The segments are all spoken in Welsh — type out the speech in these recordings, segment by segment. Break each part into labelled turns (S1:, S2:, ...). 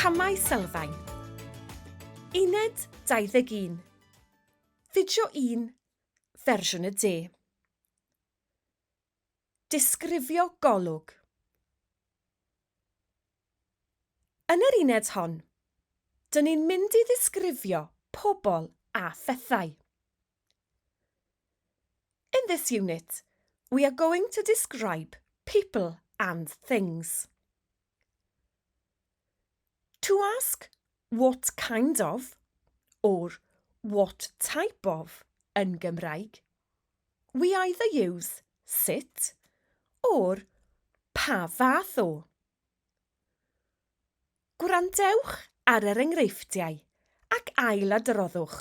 S1: Camau Sylfaen Uned 21 Fideo 1 Fersiwn y De Disgrifio golwg Yn yr uned hon, dyn ni'n mynd i ddisgrifio pobl a phethau. In this unit, we are going to describe people and things. To ask what kind of or what type of yn Gymraeg, we either use sut or pa fath o. Gwrandewch ar yr enghreifftiau ac ailadroddwch.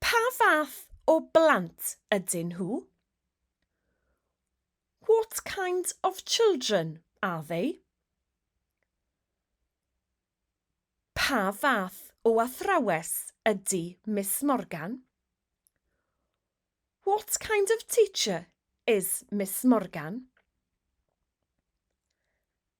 S1: Pa fath o blant ydyn nhw? What kind of children are they? Pa fath o athrawes ydy Miss Morgan? What kind of teacher is Miss Morgan?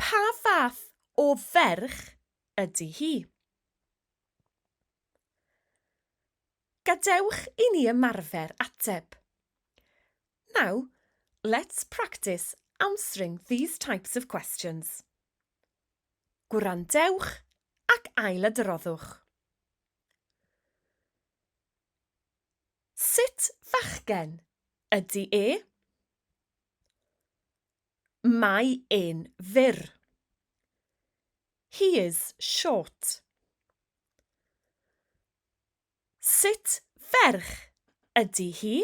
S1: Pa fath o ferch ydy hi? Gadewch i ni ymarfer ateb. Now, let's practice answering these types of questions. Gwrandewch ac ailadroddwch. Sut fachgen ydy e? Mae e'n fyr. He is short. Sut ferch ydy hi?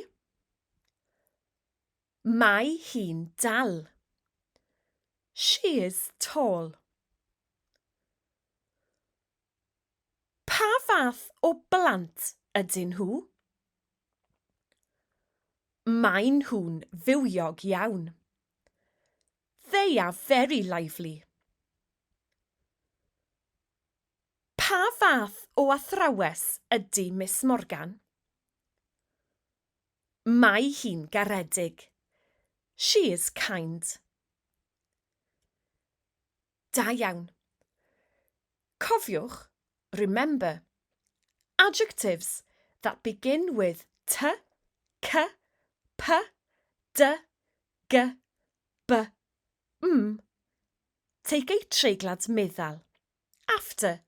S1: Mae hi'n dal. She is tall. Pa fath o blant ydyn nhw? Maen nhw'n fywiog iawn. They are very lively. Pa fath o athrawes ydy Miss Morgan? Mae hi'n garedig. She is kind. Da iawn. Cofiwch, remember, adjectives that begin with t, k, p, d, g, b, m. Take a treiglad meddal. After,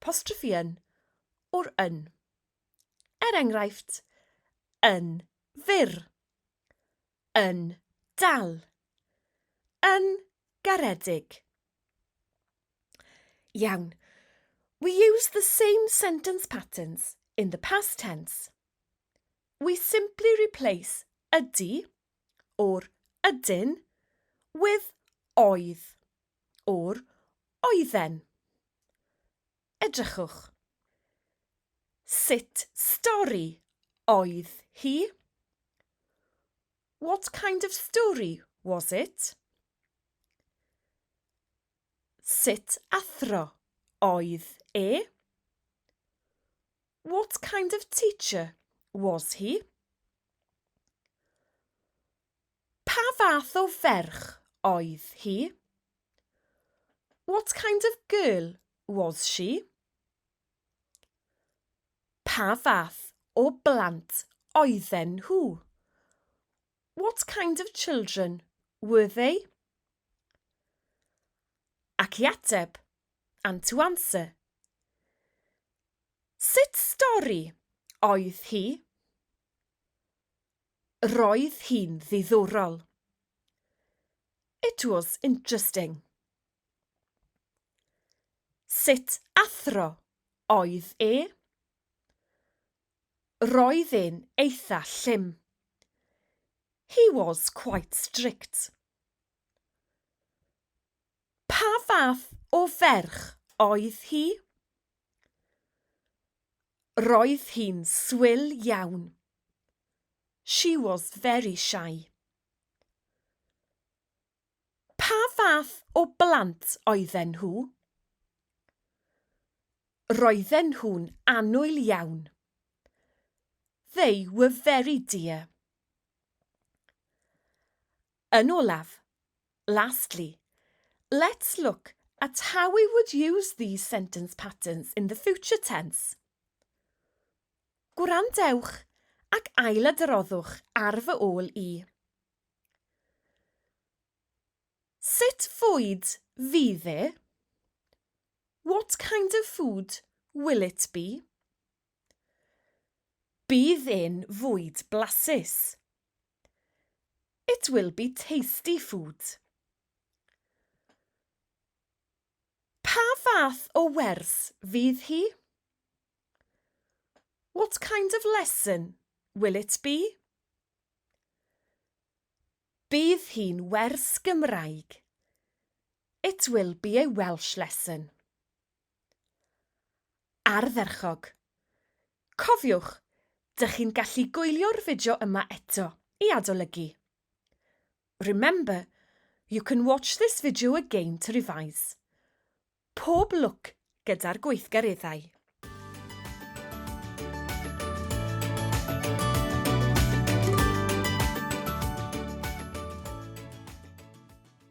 S1: postrophe yn, or yn. Er enghraifft, yn fyr. Yn dal. Yn garedig. Iawn. We use the same sentence patterns in the past tense. We simply replace ydy or ydyn with oedd or oedden. Edrychwch. Sut stori oedd hi? What kind of story was it? Sut athro oedd e? What kind of teacher was he? Pa fath o ferch oedd hi? What kind of girl was she? Pa fath o blant oedden nhw? What kind of children were they? Ac i ateb, and to answer. Sut stori oedd hi? Roedd hi'n ddiddorol. It was interesting. Sut athro oedd e? Roedd e'n eitha llym. He was quite strict. Pa fath o ferch oedd hi? Roedd hi'n swil iawn. She was very shy. Pa fath o blant oedden nhw? Roedden nhw'n annwyl iawn. They were very dear. Yn olaf, lastly, let's look at how we would use these sentence patterns in the future tense. Gwrandewch ac ailadroddwch ar fy ôl i. Sut fwyd fydd e? What kind of food will it be? Bydd e'n fwyd blasus. It will be tasty food. Pa fath o wers fydd hi? What kind of lesson will it be? Bydd hi'n wers Gymraeg. It will be a Welsh lesson. Ardderchog! Cofiwch, dych chi'n gallu gwylio'r fideo yma eto i adolygu. Remember, you can watch this video again to revise. Pob lwc gyda'r gweithgareddau!